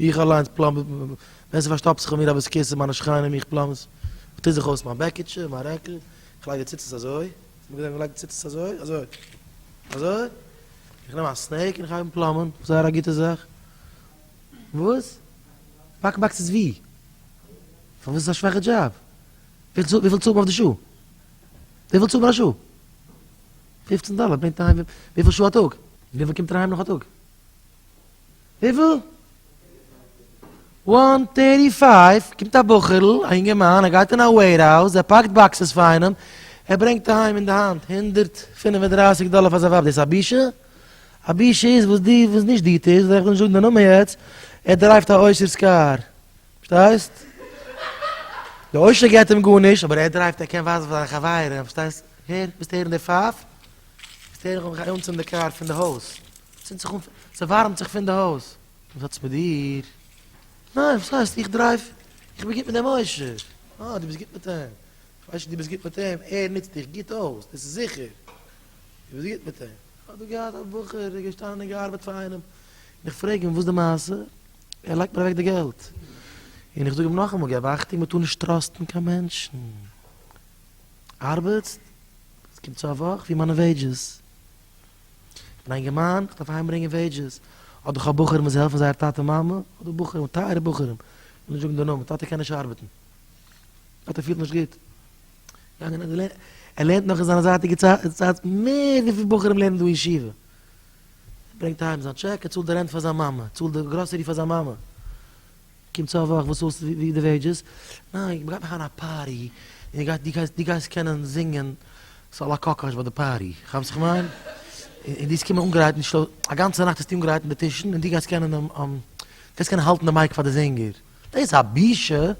איך אליינס פלאם ווען ס'איז פארשטאפט זיך פאר מיר א בית כסא, מיינע שכנים, איך פלאם עס, איך טו זיך אויס מיין בעקיטשע, מיין רעקל, איך לייג די ציצית אזוי, איך האב געזען ווי מען לייגט די ציצית אזוי, אזוי, אזוי, איך נעם א סנעק און איך הייב אן פלאמען, זייער א גוטע זאך. וואס? באקן באקסעס ווי? פארוואס איז עס א שוואכע דזשאב? וויפיל צאלט מען אויף די שעה? וויפיל צאלט מען א שעה? פופצן דאלער ברענגט אהיים וויפיל שעה א טאג? וויפיל קומט אריין נאך א טאג? וויפיל? וואן טערטי פייוו, קומט א בחור'ל, א יונגערמאן, ער גייט אין א וועירהאוז, ער פאקט באקסעס פאר איינעם, ער ברענגט אהיים אין די האנט הונדערט פֿינף און דרײַסיק דאלער פאר זיין ווייב, דאס א בושה? א בושה איז וואס די וואס נישט די טוסט, וועל איך נישט זאגן די נאמען יעצט, ער דרייווט א עושר'ס קאר, פארשטייסט? די עושר געבט אים גארנישט, אבער ער דרייווט, ער קען ווייזן פאר זיינע חברים, פארשטייסט? הער, ווילסט הערן די פייף? ווילסט הערן איך האב מיך אנגעצינדן די קאר פון די הויז? צינדט זיך אן, ס'ווארעמט זיך פון די הויז. וואס האט עס מיט דיר? ניין, וואס הייסט? איך דרייוו, איך בין גוט מיט דעם עושר. אה, דו ביסט גוט מיט אים. איך ווייס נישט דו ביסט גוט מיט אים, ער נוצט דיך גוט אויס, דאס איז זיכער. דו ביסט גוט מיט אים. כ'האב דא געהאט א בחור, ער איז געשטאנען און געארבעט פאר איינעם, און איך פרעג אים וואס די מעשה, ער לייגט מיר אוועק די געלט. און איך זאג אים נאכאמאל, געב אכטונג, מ'טאר נישט טראסטן קיין מענטשן. ארבעטסט? ס'קומט צו א וואך ווי מיינע וועידזשעס. אין א געמיין וואס דארף אהיימברענגען וועידזשעס, האט דאך א בחור מוז העלפן זייער טאטע מאמע, אדער בחורים, טייערע בחורים, איך וויל נישט זאגן די נאמען, טאטע קען נישט ארבעטן, טאטע פילט נישט גוט, ער לערנט נאך אין זיינע זייטיגע צייט מער וויפיל בחורים לערנען דא אין ישיבה, ער ברענגט אהיים זיין טשעק, ער צאלט די רענט פאר זיין מאמע, ער צאלט די גראסערי פאר זיין מאמע, קום צו א וואך וואס האלסטו ווי די וועידזשעס? ניין איך גייט מאכן א פארטי און דו גייסט קענען זינגען סאל א קאקאש ביי די פארטי כאפסט וואס איך מיין? און דו וועסט קומען אנגערייט און שלא א גאנצע נאכט וועסטו אנגערייט און די טישן און דו גייסט קענען האלטן די מייק פאר די זינגער? דאס א בושה?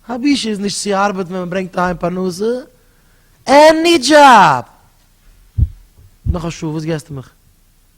א בושה איז נישט צו ארבעטן ווען מען ברענגט אהיים פרנסה? עני דזשאב! נאך א שעה וואס געסטו מיך?